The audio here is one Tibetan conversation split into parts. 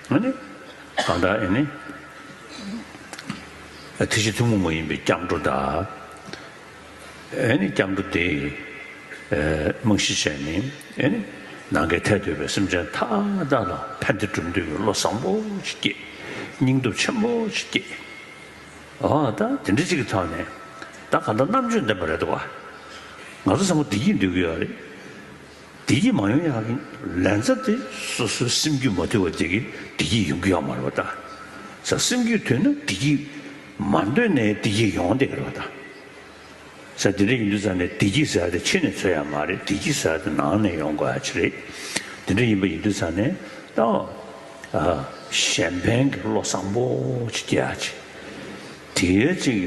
ང་ནི་གང་དག་ཡིན། དེ་བཞིན་ཐུན་མོང་མ་ཡིན་པའི་སྐྱབས་འགྲོ་དག། སྐྱབས་འགྲོ་དེས་རྨང་གཞི་བྱས་ནས། ནང་གི་ཐལ་དོད་པའི་སེམས་ཅན་མཐའ་དག་ལ་ཕན་བདེ་སྒྲུབ་འདོད་པའི་བློ་བཟང་པོ་ཞིག་སྐྱེས། སྙིང་སྟོབས་ཆེན་པོ་ཞིག་སྐྱེས། འོ་ད་དེ་འདྲ་ཅིག་གི་ཐོག་ནས་ད་གང་དག་རྣམ་དཔྱོད་ལྡན་པ་རེད་དོ། ང་ཚོ་ཚང་མ་བདེ་སྐྱིད་འདོད་ཀྱི་ཡོད་རེད། བདེ་སྐྱིད་མ་ཡོང་ཡང་རུང་ལན་ཚ་དེ་སོ་སོའི་སེམས་རྒྱུད་མ་དུལ་བ་དེ་གིས་བདེ་སྐྱིད་ཡོང་གི་ཡོད་མ་རེད་པ་དང། ས་སེམས་རྒྱུད་དུལ་ན་བདེ་སྐྱིད་མ་འདོད་ནས་བདེ་སྐྱིད་ཡོང་བདེ་རེད་པ་དང། ས་དེ་འདྲ་ཡིན་དུས་ཚ་ནས་བདེ་སྐྱིད་ཟེར་བ་དེ་ཕྱི་ནས་འཚོལ་ཡག་མ་རེད་བདེ་སྐྱིད་ཟེར་བ་དེ་ནང་ནས་ཡོང་དགོས་ཡག་ཆེ་རེད། དེ་འདྲ་ཡིན་པ་ཡིན་དུས་ཚ་ནས་ཨ་གཞན་ཕན་གྱི་བློ་བཟང་པོ་ཅིག་སྐྱེ་ཡག་ཆེ། དེ་ཡོད་ཅིག་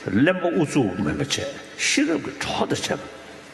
གླེན་པ་ཨུ་ཚུགས་མིན་པ་བྱས་ཤེས་རབ་ཀྱི་གྲོགས་དང་བྱས་པ།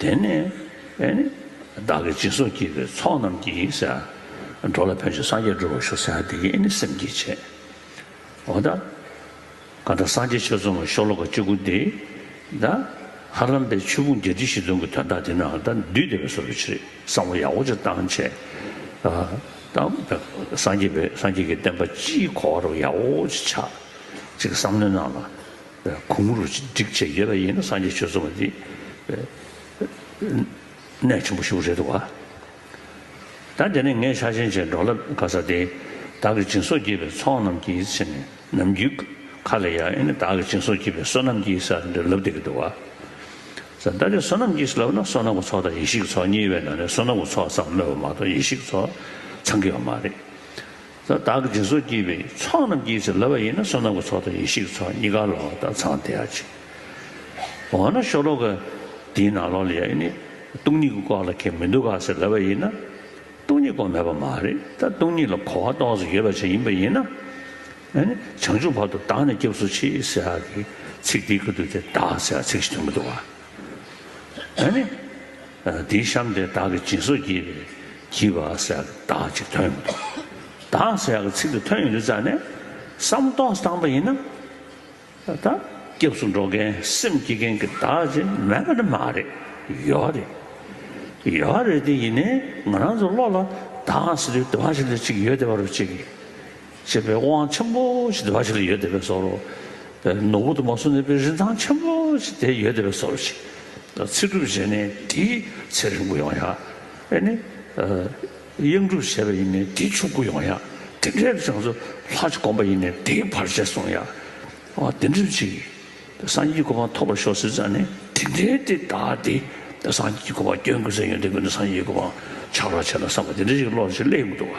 དེ་ནས་བདག་གི་སྦྱིན་སོགས་བགྱིས་པའི་ཚོགས་རྣམས་ཀྱིས། འགྲོ་ལ་ཕན་ཕྱིར་སངས་རྒྱས་འགྲུབ་པར་ཤོག་སེམས་དེ་ཡིས་ནི་སེམས་བསྐྱེད་བྱས། འོ་ད། གང་དག་སངས་རྒྱས་ཆོས་མཚུངས་པར་ཤོག་ལོ་ཀ་བཅུ་དགུ་འདི། ད། ཧ་རམ་པའི་ཆོས་ཕུང་བརྒྱད་ཁྲི་བཞི་སྟོང་གི་དོན་དག་འདི་རྣམས་ད་བདུད་སྡེ་པའི་སོ་སོའི་ཕྱིར་བསམ་བློ་ཡག་པོ་ཅིག་བཏང། བྱས་དང། སངས་རྒྱས་ཀྱི་བསྟན་པ་སྤྱིའི་གོ་བ་རུ་ཡག་པོ་ཅིག་ཆགས། ཅིག་བསམ་མནོ་གནང་ལ། གུང་རུ་སྒྲིག་བྱེད་ཡོད་པ་ཡིན་ན་སངས་རྒྱས་ཆོས་གསུངས་པ་འདི་གནད་ཆེན་པོ་ཞིག་རེད་འདུག་བ། ད་དེ་ནས་ངས་ཤ་ཆེན་ཆེན་འབྲོག་ལབ་ག་ས་དེ་བདག་གི་སྦྱིན་སོགས་བགྱིས་པའི་ཚོགས་རྣམས་ཀྱིས་ཕྱི་ནས་ནམ་རྒྱུན་ཁ་ལ་ཡ་ཨེ་ནི་བདག་གི་སྦྱིན་སོགས་བགྱིས་པའི་བསོད་ནམས་ཀྱིས་ས་རེ་འདིར་ལབ་བསྡད་ཀྱི་འདུག་བ། ད་དེ་བསོད་ནམས་ཀྱིས་ལབ་ན་བསོད་ནམས་ཀྱི་ཚོགས་དང་ཡེ་ཤེས་ཀྱི་ཚོགས་གཉིས་པའི་ནང་ནས་བསོད་ནམས་ཀྱི་ཚོགས་ཙམ་སྨོས་པ་མ་གཏོགས་ཡེ་ཤེས་ཀྱི་ཚོགས་ཚང་གི་ཡོད་མ་རེད། ས་བདག་གི་སྦྱིན་སོགས་བགྱིས་པའི་ཚོགས་རྣམས་ཀྱིས་ཚེ་ལ་བ་ཡིན་ན་བསོད་ནམས་ཀྱི་ཚོགས་དང་ཡེ་ཤེས་ཀྱི་ཚོགས་གཉིས་ཀ་ལ་བ་དང་ཚངས་ཐིག་ཡར་བྱེད། འོ་ན་ཤོ་ལོ་ཀ་དེའི་ནང་ལོགས་ལ་ཡ་ཡིན་ནི་སྟོང་ཉིད་ཀྱི་སྐོར་ལ་ཁས་མི་འདུག་ག་ཚེ་ལ་བ་ཡིན་ན་སྟོང་ཉིད་སྐོར་མེད་པ་མ་རེད་ད་སྟོང་ཉིད་ལ་གོ་བ་སྟོང་ཟེར་ཡོད་པ་ཅན་ཡིན་པ་ཡིན་ན། བྱང་ཆུབ་བར་དུ་བདག་ནི་སྐྱབས་སུ་མཆི་ཟེར་བ་དེ་ཚིག་དེའི་ཁུལ་དུ་དེ་བདག་ཟེར་བ་ཚིག་གཞི་དུ་མི་འདུག་ག། དེའི་གཤམ་དེ་བདག་གི་སྦྱིན་སོགས་བགྱིས་པས་བགྱིས་པ་སེ་ཡག་གི་བདག་ཅེས་ཐོན་ཡོང་དོ། བདག་སེ་ཡག་གི་ཚིག་འདི་ཐོན་ཡོང་དུས་རྩ་ནས་བསམ་རྟོགས་སུ་བཏང་པ་ཡིན་ན། ད་ལྟ་སྐྱབས་སུ་འགྲོ་མཁན་སེམས་བསྐྱེད་མཁན་གྱི་བདག་ཅེས་མེད་པ་ནི་མ་རེད། ཡོད་རེད། ཡོད་རེད་དེ་ཡིན་ནའི་ང་རང་ཚོའི་བློ་ལ་བདག་ཟེར་བའི་དུ་བ་ཞིག་འདི་གཅིག་ཡོད་དེ་བ་རུ་གཅིག། ཞེས་པའི་དབང་ཆེན་པོ་ཞིག་འདི་འབའ་ཞིག་ལ་ཡོད་བསྡད་པས་སོ། ནོར་བུ་དུ་མ་སོགས་ནི་པའི་རིན་ཐང་ཆེན་པོ་ཞིག་དེ་ཡོད་བསྡད་པས་སོ་ཞེས་ཚིག་གྲུབ་བྱས་ནས་དེའི་ཚེ་རིང་པོ་ཡོང་ཡང། ཨེ་ནི། དབྱངས་གྲུབ་བྱས་པ་ཡིན་ནས་དེ་ཕྱུག་པོ་ཡོང་ཡང། དེ་འདྲའི་བྱང་ཆུབ་ལྷ་ཅིག་བསྒོམ་པ་ཡིན་ནས་དེའི་བར་ཆད་སོང་ཡང། དེ་འདྲའི་ཕྱིར། སངས་རྒྱས་གོ་འཕང་ཐོབ་པར་ཤོག་ཟེར་ཙང་ནི་དེ་འདྲའི་དེ་བདག་དེ་སངས་རྒྱས་ཀྱི་གོ་འཕང་སྐྱོན་དགོས་ཟེར་ཡོན་ཏན་དགོས་ན་སངས་རྒྱས་ཀྱི་གོ་འཕང་ཆགས་རོགས་བྱས་ལ་བསམ་པ་དེ་འདྲ་ཞིག་བློར་ཅིག་སླེབས་མི་འདུག་བ།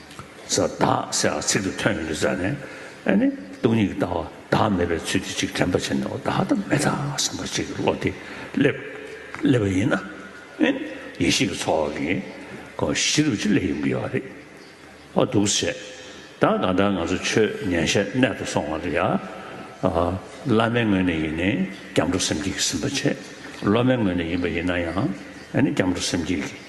ས་བདག་ཟེར་བ་ཚིག་ཏུ་ཐོན་ཡོད་ས་ནས་ཨ་ནི་སྟོང་ཉིད་ཀྱི་ལྟ་བ་བདག་མེད་པའི་ཚུལ་དུ་ཅིག་དྲན་པ་བྱས་ནས་འོ་བདག་ལྟ་མེད་དང་བསམ་པ་ཅིག་བློ་དེ་སླེབས་པ་ཡིན་ན་ཨ་ནི་ཡེ་ཤེས་ཀྱི་ཚོགས་ཀྱི་སྒོ་བཞི་རུ་ཅིག་སླེབས་ཡོང་གི་ཡོད་པ་རེད་ཨོ་འདུག་བྱས་ད་གང་ལྟར་ང་ཚོ་ཆོས་ཉན་ཤེས་རྣལ་དུ་སོང་བ་ཡ་ཨ་བླ་མའི་ངོས་ནས་ཡིན་ནས་སྐྱབས་འགྲོ་སེམས་བསྐྱེད་ཀྱི་ཟིན་པ་བྱས་སློབ་མའི་ངོས་ནས་ཡིན་པ་ཡིན་ན་ཡང་ཨ་ནི་སྐྱབས་འགྲོ་སེམས་བསྐྱེད་ཀྱི།